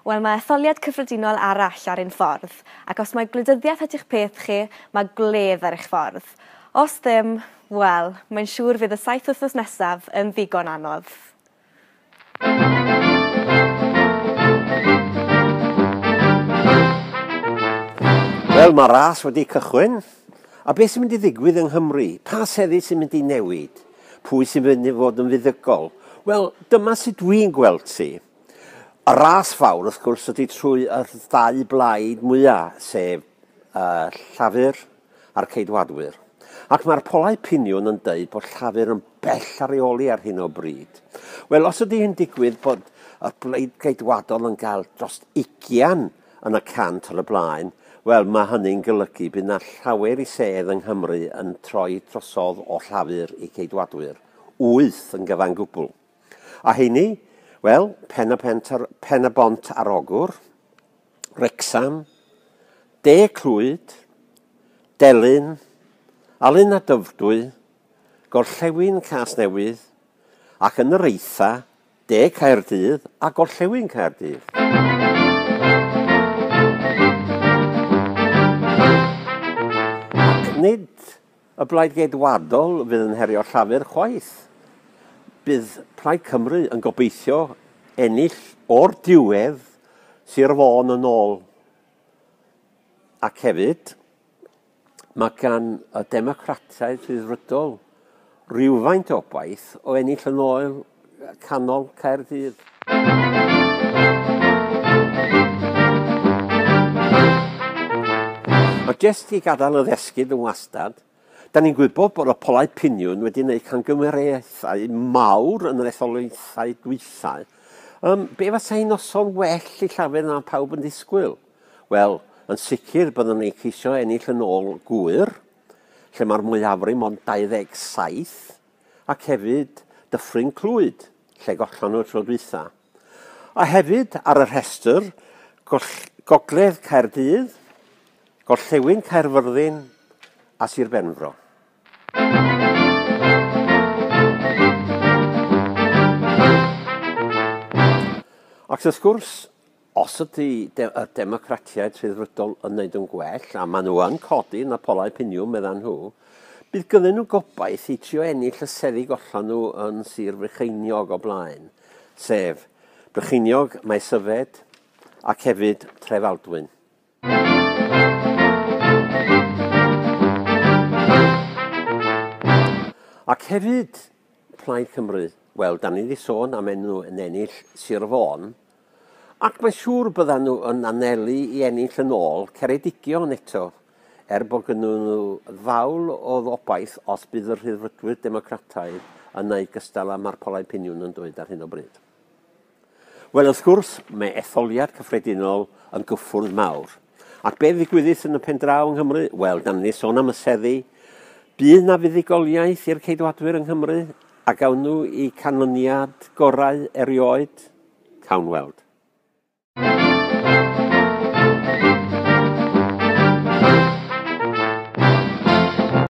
Wel, mae etholiad cyffredinol arall ar ein ffordd, ac os mae gwleidyddiaeth ydy'ch peth chi, mae gwledd ar eich ffordd. Os ddim, wel, mae'n siŵr fydd y saith wythnos nesaf yn ddigon anodd. Wel, mae ras wedi cychwyn. A beth sy'n mynd i ddigwydd yng Nghymru? Pa seddi sy'n mynd i newid? Pwy sy'n mynd i fod yn fuddugol? Wel, dyma sut dwi'n gweld ti. Y ras fawr, wrth gwrs, ydy trwy y ddau blaid mwyaf, sef Llafur a'r Ceidwadwyr. Ac mae'r polau piniwn yn dweud bod Llafur yn bell ar ei oli ar hyn o bryd. Wel, os ydy hyn digwydd bod y blaid Geidwadol yn cael dros 20 yn y cant ar y blaen, wel, mae hynny'n golygu bydd na llawer i sedd yng Nghymru yn troi drosodd o Llafur i Geidwadwyr. Wyth yn gyfan gwbl. A heini? Wel, Pen y, Pent ar, Pen y Bont ar Ogwr, Wrecsam, De Clwyd, Delyn, Alun a Dyfrdwy, Gorllewin Casnewydd ac yn yr eitha, De Caerdydd a Gorllewin Caerdydd. Ac nid Y Blaid Geidwadol fydd yn herio Llafur chwaith. Bydd Plaid Cymru yn gobeithio ennill o'r diwedd Sir Fôn yn ôl. Ac hefyd, mae gan y Democratau Rhyddfrydol rhywfaint o obaith o ennill yn ôl canol Caerdydd. Ond jyst i gadael y ddesgyd yn wastad, da ni'n gwybod bod y polau piniwn wedi gwneud cangymeriaethau mawr yn yr etholaethau dwythau. Um, be fasa hi'n noson well i llafur na pawb yn disgwyl? Wel, yn sicr byddwn ni'n ceisio ennill yn ôl gwyr, lle mae'r mwyafrif ond 27, ac hefyd Dyffryn Clwyd, lle gollon nhw y tro dwytha. A hefyd ar y rhestr, goll, Gogledd Caerdydd, Gorllewin Caerfyrddin a Sir Benfro. Ac wrth gwrs, Os ydy y Democratiaid Rhyddfrydol yn neud yn gwell, a maen nhw yn codi yn y polau piniwn, meddan nhw, bydd gynnyn nhw gobaith i trio ennill y seddi gollan nhw yn Sir Frycheiniog o blaen, sef Brycheiniog, Maes Yfed ac hefyd Trefaldwyn. Ac hefyd, Plaid Cymru, wel, da ni wedi sôn am enw yn ennill Sir Fôn, ac mae'n siŵr byddan nhw yn anelu i ennill yn ôl Ceredigion eto, er bod gynnyn nhw ddawl o obaith os bydd y Rhyddfrydwyr Democrataidd yn ei gystal â Marpolau Piniwn yn dweud ar hyn o bryd. Wel, wrth gwrs, mae etholiad cyffredinol yn gyffwrdd mawr. Ac be ddigwyddith yn y pen draw yng Nghymru? Wel, dan ni sôn am y seddi. Bydd na fuddugoliaeth i'r ceidwadwyr yng Nghymru a gawn nhw i canlyniad gorau erioed? Cawn weld.